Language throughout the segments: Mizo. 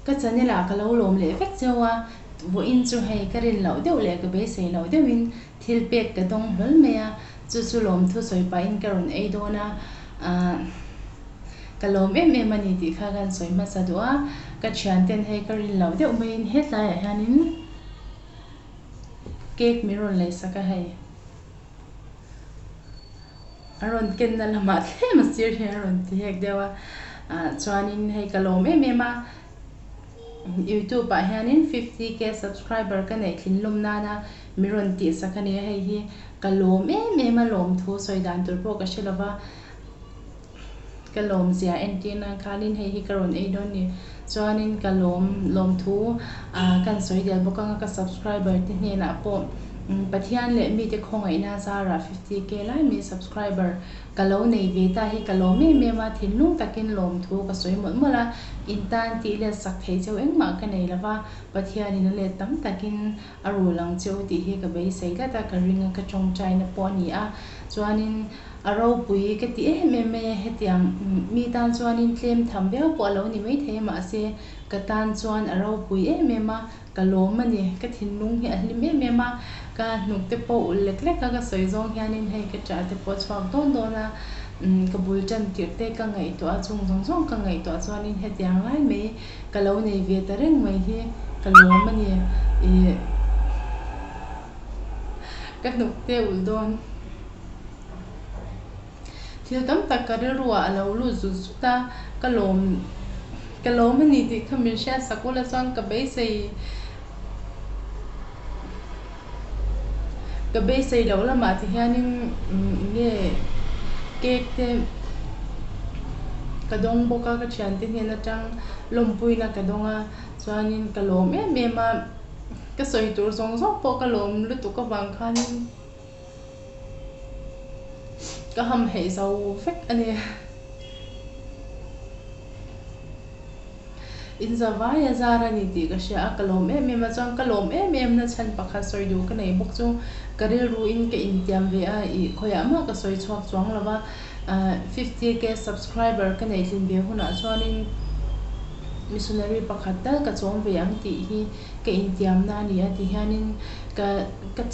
Ka chanel ah ka lo lawm leh vek cheu a vawiin chu hei ka rin loh deuh leh ka beisei loh deuhin. Thil pek ka dawng hlawl mai a, chu chu lawmthu sawi pahin ka rawn ei dawn a, aah ka lawm em em a ni tih kha kan sawi hmasa duh a, ka thianten hei ka rin loh deuh maiin hetlaiah hianin cake min rawn lei sak a hei, a rawn kenna lamah thlem a sir hian a rawn ti hek deuh a, ah chuanin hei ka lawm em em a, youtube ah hianin fifty K subscriber ka neih thinlawm nana. Mi rawn tih sak a nia hei hi ka lawm em em a lawm thu sawi dan tur pawh ka hre lo va ka lawm zia entir nan khanin hei hi ka rawn ei dawn ni chuanin ka lawm lawm thu ahh kan sawi del bawk anga ka subscriber te hnenah pawh Pathian leh mite khawngaihna zarah fifty k lai min subscriber ka lo nei ve ta hi ka lawm em em a thinlung takin lawm thu ka sawi mawlh mawlh a in tan tih let sak thei cheu engmah ka nei lo va Pathian in a let tam takin. A rawl ang cheu tih hi ka beisei tlat a, ka ring a, ka tawngtaina pawh a ni a. Chuanin a ropui ka ti em em mai a, hetiang mi tan chuanin tlem tham viau pawh a lo ni maithei a, mahse ka tan chuan a ropui em em a, ka lawm a ni. Ka thinlung hi a hlim em em a, ka hnukte pawh ulh lek lek a, ka sawi zawng hianin hei ka ṭah te pawh chhuak dawn dawn a, ka bul ṭan tirh te ka ngaihtuah a, chung zawng zawng ka ngaihtuah chuanin hetiang lai mai Ka lo nei ve ta reng mai hi ka lawm a ni ih. Ka hnuk te ulh dawn. Thil tam tak ka rilruah a lo lut zut zut a, ka lawm ka lawm a ni tih kha min hriat sak ula chuan ka beisei. ka beisei loh lamah ti hianin nge cake te ka dawng bawk a ka thiante hian atang lawmpuina ka dawng a chuanin ka lawm em em a ka sawi tur zawng zawng pawh ka lawm lutuk avang khanin. Ka ham hei zo vek a nia. Inzavaia zar a ni tih ka hria a, ka lawm em em a, chuan ka lawm em em na chhan pakhat sawi duh ka nei bawk chu ka rilru in ka intiam ve a, ih khawiah mah ka sawi chhuak chuang lo va, fifty K subscriber ka nei tlin ve hunah chuanin missionary pakhat tal ka chawm ve ang tih hi. ka intiamna a ni a ti hianin ka ka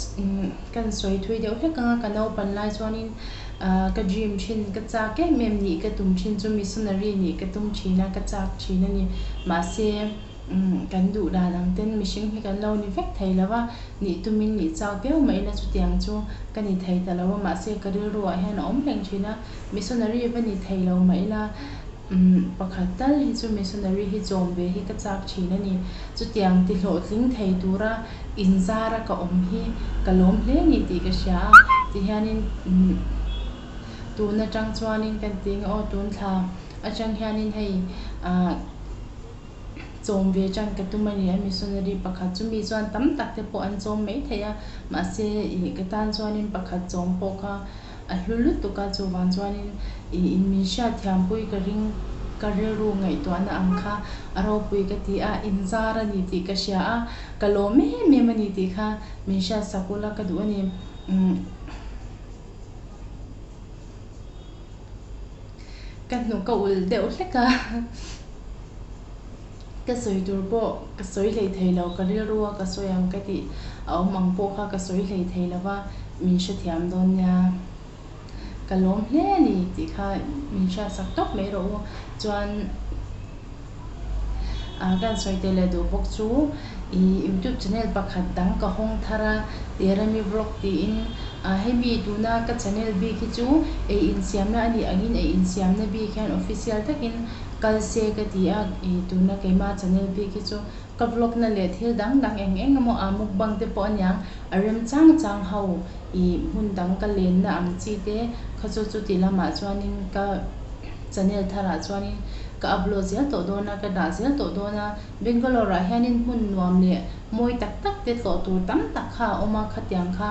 kan sawi thui deuh hlek anga ka naupan lai chuanin ahh ka gym thin ka chak em em nih ka tum thin chu missionary nih ka tum thin a ka chak thin a ni mahse kan duh dan ang ten mihring hi kan lo ni vek thei lo a nih tumin nih chak viau mai ina chutiang chu ka ni thei ta lo a mahse ka rilru ah hian a awm reng thin a missionary va ni thei lo mah ila Umm, pakhat tal hi chu missionary hi chawm ve hi ka chak thin a ni. Chutiang tihlawhtling thei tura inzara ka awm hi ka lawm hle ni tih ka hria a, tihianin umm tun atang chuanin kan ti ang aw tun thla atang hianin hei ah chawm ve tang ka tum a ni a missionary pakhat chu mi chuan tam tak te pawh an chawm mai thei a, mahse ih ka tan chuanin pakhat chawm pawh kha. A hlu lutuk a, chuvang chuanin i in min hriat thiampui ka ring ka rilru ngaihtuahna ang kha a ropui ka ti a, in zar a ni tih ka hria a, ka lawm em em a ni tih kha min hriat sak ula ka duh a ni. Umm ka hnu ka ulh deuh hlek a. Ka sawi tur pawh ka sawi hlei thei lo, ka rilru a ka sawi ang ka tih a awm ang pawh kha ka sawi hlei thei lo va, min hre thiam dawn nia. Ka lawm hle a ni tih kha min hriat sak tawp mai rawh u. Chuan a kan sawi tel leh duh bawk chu i youtube channel pakhat dang ka hawng thar a, Terami Vlog tiin. A hemi tuna ka channel bik hi chu ei insiamna a nih ang in ei insiamna bik hian official takin kal se ka ti a, ih tuna keimah Chanel bik hi chu ka vlog na leh thil dang dang eng eng emaw a mukbang te pawh aniang a rem chang chang ho ih hmun dang ka len na ang chi te kha chu chuti lamah chuanin ka Chanel thar ah chuanin ka upload zel tawh dawn a ka dah zel tawh dawn a Bangalore ah hian in hmun nuam leh mawi tak tak te tlawh tur tam tak kha a awm a khatiang kha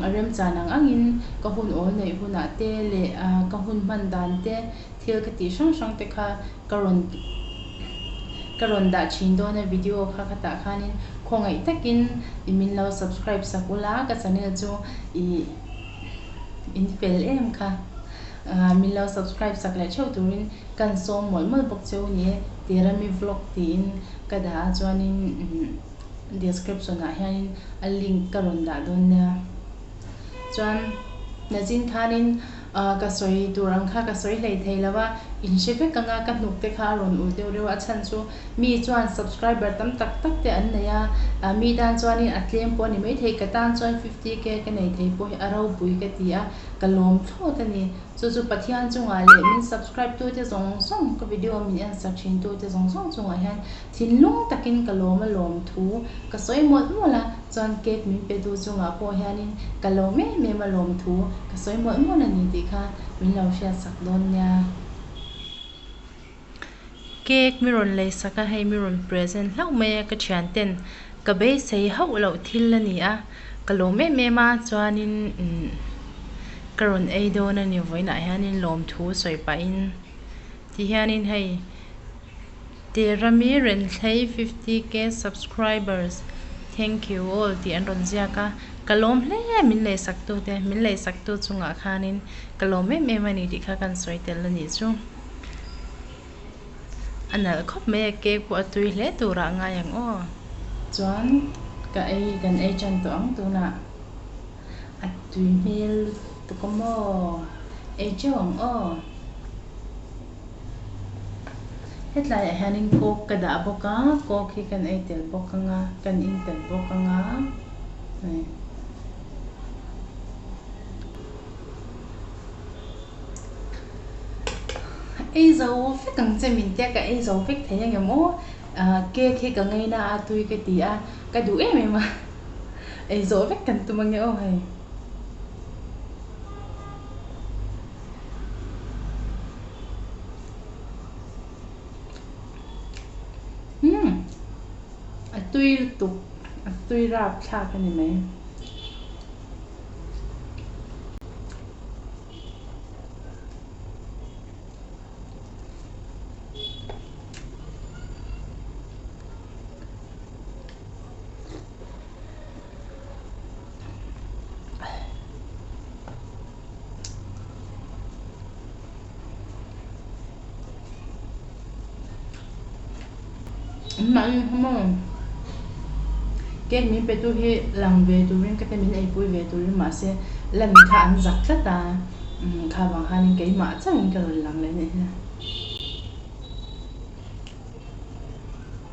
a remchan ang ang in ka hun awl neih hunah te leh ah ka hun hman dan te. thil ka tih hrang hrang te kha ka rawn ka rawn dah thin dawn a video kha ka tah khan in khawngaih tak in i min lo subscribe sak u la ka channel chu ih in fel em kha ahh min lo subscribe sak leh theuh tur in kan sawm mawlh mawlh bawk cheu ni e Tirami vlog ti in ka dah a chuan in umm description ah hian in a link ka rawn dah dawn nia chuan nazin khan in. Ahh ka sawi tur ang kha ka sawi hlei thei lo a, in hre vek anga ka hnuk te kha a rawn ulh deuh reuh a, a chhan chu mi chuan subscriber tam tak tak te an nei a, ahh mi tan chuanin a tlem pawh a ni maithei ka tan chuan fifty K ka nei thei pawh hi a robui ka ti a, ka lawm thlawt a ni, chu chu Pathian chungah leh min subscribe tute zawng zawng ka video min en sak thin tute zawng zawng chungah hian Thinlung takin ka lawm a lawm thu ka sawi mawlh mawlh a, chuan cake min petu chungah pawh hianin ka lawm em em a lawm thu ka sawi mawlh mawlh a ni tih kha min lo hriat sak dawn nia. Cake mi rawn lei sak a hei mi rawn present hlauh mai a ka thian ten ka beisei hauh loh thil a ni a, ka lawm em em a chuanin ka rawn ei dawn a ni vawiinah hianin lawm thu sawi pahin ti hianin hei. Terami Renthlei fifty K subscribers thank you all tih an rawn ziak a, ka lawm hle a min lei saktu te, min lei saktu chungah khanin ka lawm em em a ni tih kha kan sawi tel a nih chu. A nalh khawp mai a cake pawh a tui hle turah ngai ang aw. Chuan ka ei kan ei tan tawh ang tunah a tui hmel lutuk a maw ei che ang aw hetlai ah hianin coke ka dah bawk a coke hi kan ei tel bawk ang a kan in tel bawk ang a hei ei zo vek ang che min tia ka ei zo vek thei angemaw ahh cake hi ka ngaina a tui ka ti a ka duh em em a. ei zawh vek kan tum ange aw hei. Umm a tui lutuk a tui rap thlak ani mai. cake min pe tu hi lang ve turin ka tia min ei pui ve turin mahse la mi kha an zak tlat a imm kha vang khan keimah chauhin ka rawn lang leh neh hian.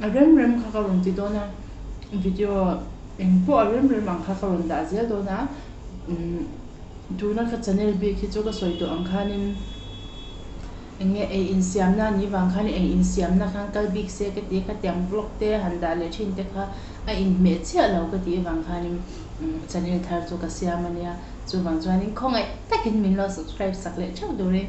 a rem rem kha ka rawn ti dawn a video eng pawh a rem rem ang kha ka rawn dah zel dawn a tuna ka channel bik hi chu ka sawi tawh ang khanin eng nge ei insiam na nih vang khan ei insiam na khan kal bik se ka ti a khatiang vlog te a han dah leh thin te kha a in hmeh chiah lo ka tih avang khanin channel thar chu ka siam ania chuvang chuan khawngaih takin min lo subscribe sak leh theuh dûrin.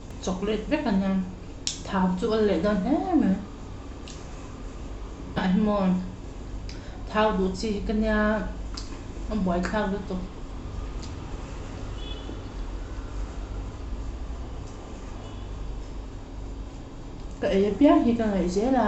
Chocolate vek a nia. Thau chu a leh dawn hle mai. Tah hi maw. Thau duh chi hi ka nia. A buai thlak lutuk. Ka ei apiang hi ka ngaih zel a.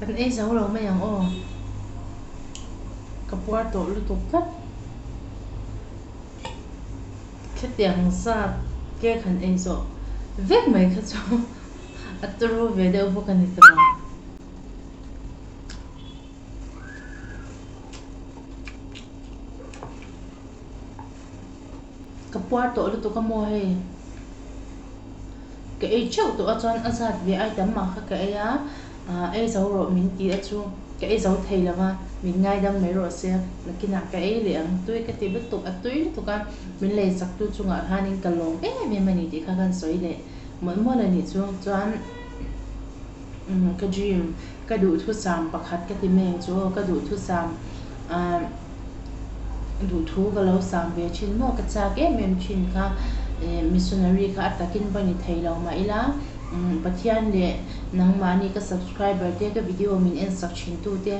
Kan ei zo lo mai ang aw. Ka puar tawh lutuk tlat. Thletiang zat ke kan ei zawh vek mai kha chu a tru ve deuh bawk a ni tawh. Ka puar tawh lutuk a maw hei? Ka ei ṭheuh tawh a chuan a zat ve ai tam mah kha ka ei a, aah ei zo rawh min ti a chu. Ka ei zo thei lo va, min ngai dang mai rawh se. Nakinah ka ei leh ang tui ka ti lutuk, a tui lutuk a, min lei sak tu chungah khanin ka lawm em em a ni tih kha kan sawi leh mual mual a nih chu. Chuan. Umm ka dream ka duh thusam pakhat ka ti meng chu aw ka duh thusam ahh duh thu ka lo sam ve thin maw ka chak em em thin kha ehh missionary kha a takin va ni thei lo mah ila umm Pathian leh nangmahni ka subscriber te ka video min en sak thin tu te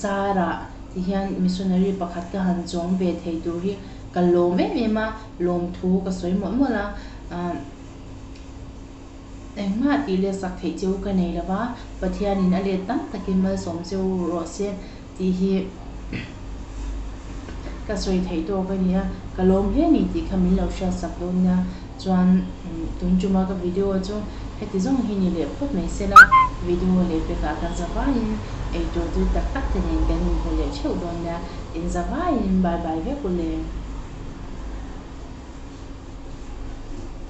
zara ti hian missionary pakhat ka han zawng ve thei tur hi ka lawm em em a lawm thu ka sawi mawlh mawlh a ahh. Engmah tih let sak theih cheu ka nei lo va, Pathianin a let tam takin malsawm cheu rawh se tih hi ka sawi theih tawk a nia, ka lawm hle ni tih kha min lo hriat sak dawn nia. Chuan tun tuma ka video chu heti zawng hi ni leh phawt mai se la, video leh pekah kan zavaiin eitur tui tak tak te nen kan inhmu leh theuh dawn nia, in zavaiin bye bye vek u le.